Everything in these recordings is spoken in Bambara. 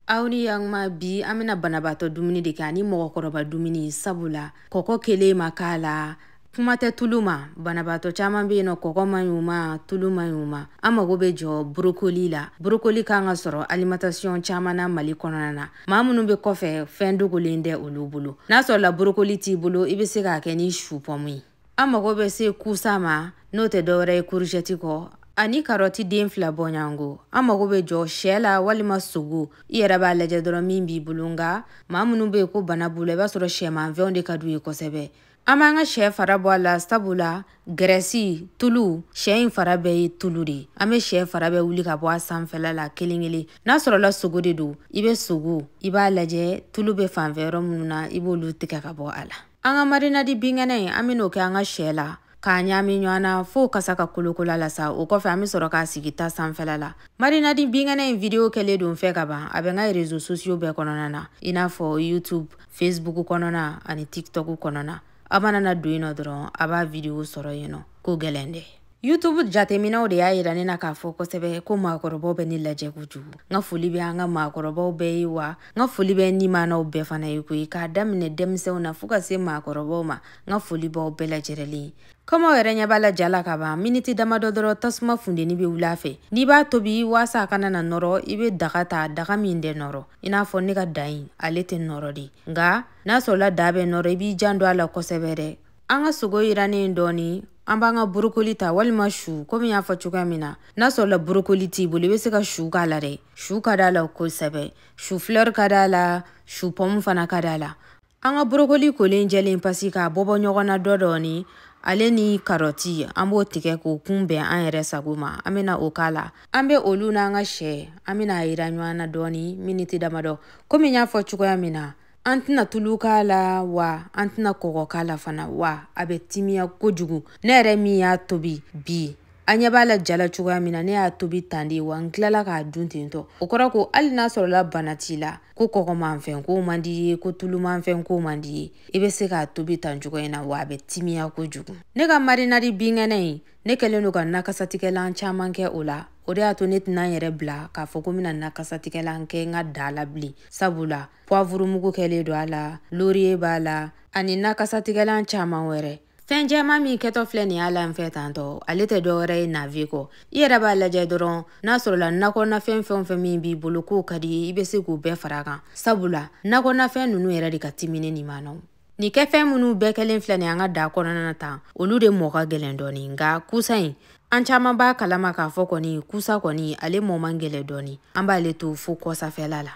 aw ni yakuma bi an bɛna banabaatɔ dumuni de kɛ ani mɔgɔkɔrɔba dumuni sabu la kɔkɔ kelen ma k'a la kuma tɛ tulu ma banabaatɔ caman bɛ yen nɔ kɔgɔ man ɲi u ma tulu man ɲi u ma an mago bɛ jɔ borokoli la borokoli kan ka sɔrɔ alimatasiyɔn caman na mali kɔnɔna na maa minnu bɛ kɔfɛ fɛn dogolen tɛ olu bolo n'a sɔrɔla borokoli t'i bolo i bɛ se k'a kɛ ni su pɔmu ye an mago bɛ se kusa ma n'o tɛ dɔwɛrɛ ye kuruzɛti kɔ ani karɔti den fila bɔɲɔgɔnko an mago bɛ jɔ sɛ la walima sogo i yɛrɛ b'a lajɛ dɔrɔn min b'i bolo nka maa minnu bɛ yen ko bana b'u la i b'a sɔrɔ sɛmanfɛnw de ka d'u ye kosɛbɛ an b'an ka sɛ fara bɔ a la sabu la gɛrɛsi tulu sɛ in fara bɛɛ ye tulu de ye an bɛ sɛ fara bɛɛ wuli ka bɔ a sanfɛla la kelen kelen n'a sɔrɔla sogo de don i bɛ sogo i b'a lajɛ tulu bɛ fan fɛ yɔrɔ minnu na i b'olu tigɛ ka bɔ a la an ka marinadi binkɛnɛ in an bɛn'o kɛ an ka sɛ la k'a ɲaami ɲɔgɔn na fɔɔ kasa ka kolokola la sa o kɔfɛ an bɛ sɔrɔ k'a sigi ta sanfɛla la marinadi binkɛnɛ in video kɛlen don n fɛ kaban a bɛ n ka rezo sosiyo bɛɛ kɔnɔna na i n'a fɔ youtube facebook kɔnɔna ani tiktok kɔnɔna a mana na don yen nɔ dɔrɔn a b'a video sɔrɔ yen nɔ ko gɛlɛn tɛ youtube jateminɛw de y'a yira ne na k'a fɔ kosɛbɛ ko maakɔrɔbaw bɛ ne lajɛ kojugu n ka foli bɛ an ka maakɔrɔbaw bɛɛ ye wa n ka foli bɛ nimanaw bɛɛ fana ye koyi k'a daminɛ denmisɛnw na fɔɔ ka se maakɔrɔbaw ma n ka foli b'aw bɛɛ lajɛrɛlen ye komi aw yɛrɛ ɲɛ b'a la ja la ka ban miniti damadɔ dɔrɔn tasuma funteni bɛ wuli a fɛ n'i b'a tobi waasa a kana na nɔrɔ i bɛ daga ta daga min tɛ nɔrɔ i n'a fɔ ne ka da in ale tɛ nɔrɔ de nka n'a sɔrɔla da bɛ nɔrɔ i b'i janto a la kosɛbɛ dɛ an ka sogo yirannen dɔɔni an b'an ka borokoli ta walima su komi n y'a fɔ cogoya min na n'a sɔrɔla borokoli t'i bolo i bɛ se ka su k'a la dɛ su ka d'a la kosɛbɛ su flɛri ka d'a la su pɔmu fana ka d'a la an ka borokoli kolen jɛlen pasi k'a bɔbɔ ɲɔgɔn na dɔ dɔɔni ale ni karɔti an b'o tigɛ k'o kun bɛn an yɛrɛ sago ma an bɛna o k'a la an bɛ olu n'an ka sɛ an bɛna a yiran ɲɔgɔn na dɔɔni miniti damadɔ komi n y'a fɔ cogoya min na an tɛna tulu k'a la wa an tɛna kɔgɔ k'a la fana wa a bɛ timiya kojugu ne yɛrɛ min y'a tobi bi a ɲɛ b'a la ja la cogoya min na ne y'a tobi tan de wa n tilala k'a dun ten tɔ o kɔrɔ ko hali n'a sɔrɔla bana t'i la ko kɔgɔmanfɛn ko man d'i ye ko tulumanfɛn ko man d'i ye i bɛ se k'a tobi tan cogoya in na wa a bɛ timiya kojugu ne ka marinadi binkɛnɛ in ne kɛlen don ka nakasatigɛlan caman kɛ o la o de y'a to ne tɛna n yɛrɛ bila k'a fɔ ko n bɛna nakasatigɛlan kɛ n ka da la bilen sabula puwavurumugu kɛlen don a la loriye b'a la ani nakasatigɛlan caman wɛrɛ fɛn jɛman min kɛtɔ filɛ nin y'a la n fɛ tantɔ ale tɛ dɔ wɛrɛ ye navɛ kɔ i yɛrɛ b'a lajɛ dɔrɔn n'a sɔrɔla nakɔnafɛn fɛn o fɛn min b'i bolo k'o ka di i ye i bɛ se k'u bɛɛ fara kan sabula nakɔnafɛn ninnu yɛrɛ de ka timi ne nimanaw nin kɛfɛn minnu bɛɛ kɛlen filɛ nin an ka da kɔnɔna na tan olu de mɔɔ ka gɛlɛn dɔɔni nka kusa in an caman b'a kalama k'a fɔ kɔni kusa kɔni ale mɔɔ man gɛlɛn dɔɔni an b'ale to fo kɔsafɛla la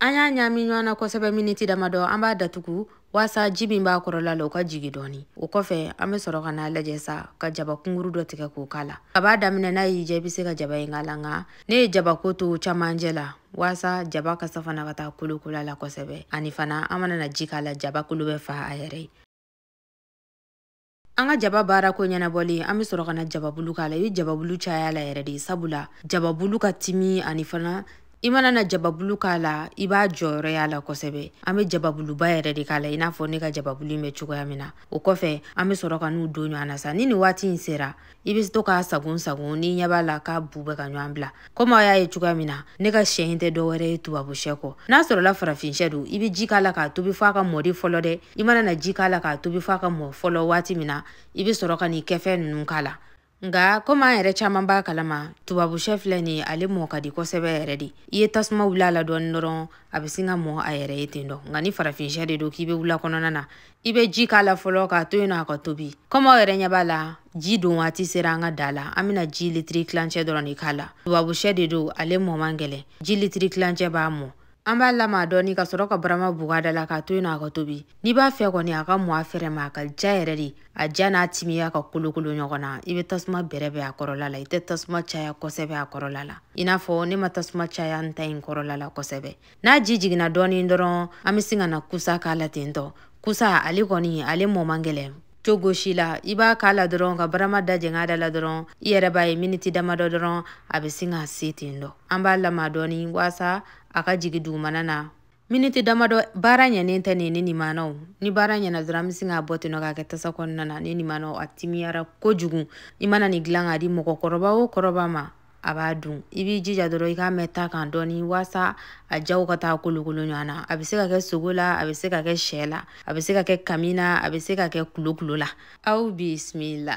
an y'a ɲaami ɲɔgɔn na kosɛbɛ miniti damadɔ an b'a datugu waasa ji min b'a kɔrɔla la o ka jigi dɔɔni o kɔfɛ an be sɔrɔ ka n'a lajɛ sa ka jaba kunguru dɔ tigɛ k'o k'a la kab'a daminɛ n'a y'i diya i be se ka jaba in k'a la nka ne ye jabako to camancɛ la waasa jaba kasa fana ka taa kolokola la kosɛbɛ ani fana an mana na ji k'a la jaba kolo bɛ fa a yɛrɛ ye an ka jaba baara ko ɲɛnabɔlen an be sɔrɔ ka na jababulu k'a la i be jababulu caya la yɛrɛ de sabula jababulu ka timi ani fana i mana na jababulu k'a la i b'a jɔyɔrɔ y'a la kosɛbɛ an be jababuluba yɛrɛ de k'a la i n'a fɔ ne ka jababulu in bɛ cogoya min na o kɔfɛ an be sɔrɔ ka n'u don ɲɔgɔn na sa ni nin waati in sera i bɛ to k'a sagon sagon n'i ɲɛ b'a la k'a bu bɛ ka ɲɔgɔn bila komi aw y'a ye cogoya min na ne ka sɛ in tɛ dɔwɛrɛ ye tubabu sɛ kɔ n'a sɔrɔla farafin sɛ don i bɛ ji k'a la k'a tobi f'a ka mɔ de fɔlɔ dɛ i mana na ji k'a la k'a tobi f'a ka mɔ fɔlɔ waati min na i bɛ sɔrɔ ka n'i kɛfɛn ninnu k'a la nka komi an yɛrɛ caman b'a kalama tubabu sɛ filɛ nin ale mɔ ka di kosɛbɛ yɛrɛ de i ye tasuma wuli a la dɔɔni dɔrɔn a bɛ sin ka mɔ a yɛrɛ ye ten dɔ nka ni farafin sɛ de don k'i bɛ wula kɔnɔna na i bɛ ji k'a la fɔlɔ k'a to yen nɔ a ka tobi komi aw yɛrɛ ɲɛ b'a la ji don waati sera an ka da la an bɛna ji litiri tilancɛ dɔrɔn de k'a la tubabushɛ de don ale mɔ man gɛlɛn ji litiri tilancɛ b'a mɔ an b'a lama dɔɔni ka sɔrɔ ka barama buga da la k'a to yen nɔ a ka tobi n'i b'a fɛ kɔni a ka mɔ a fɛrɛ ma a ka ja yɛrɛ de a ja n'a timiya ka kolokolo ɲɔgɔn na i bɛ tasuma bɛrɛbɛn a kɔrɔla la i tɛ tasuma caya kosɛbɛ a kɔrɔla la i n'a fɔ ne ma tasuma caya n ta in kɔrɔla la kosɛbɛ n'a ji jiginna dɔɔnin dɔrɔn an bɛ sin ka na kusa k'a la ten tɔ kusa ale kɔni ale mɔ man gɛlɛn cogo si la i b'a k'a la dɔrɔn ka barama da jɛng'a da la dɔrɔn i yɛrɛ b'a ye miniti damadɔ dɔrɔn a bɛ sin ka se ten dɔ an b'a lama dɔɔnin waasa a ka jigin dugumana na miniti damadɔ baara ɲɛnen tɛ nin ne nimanaw ni baara ɲɛna dɔrɔn an bɛ sin k'a bɔ ten nɔ k'a kɛ tasa kɔnɔna na ne nimanaw a timiyara kojugu i mana nin dilan k'a di mɔgɔkɔrɔba o kɔrɔba ma a b'a dun i b'i jija dɔrɔn i k'a mɛn ta kan dɔɔni waasa a jaw ka taa kolokolo ɲɔgɔn na a bɛ se ka kɛ sogo la a bɛ se ka kɛ sɛ la a bɛ se ka kɛ kami na a bɛ se ka kɛ kulokulo la aw bisimila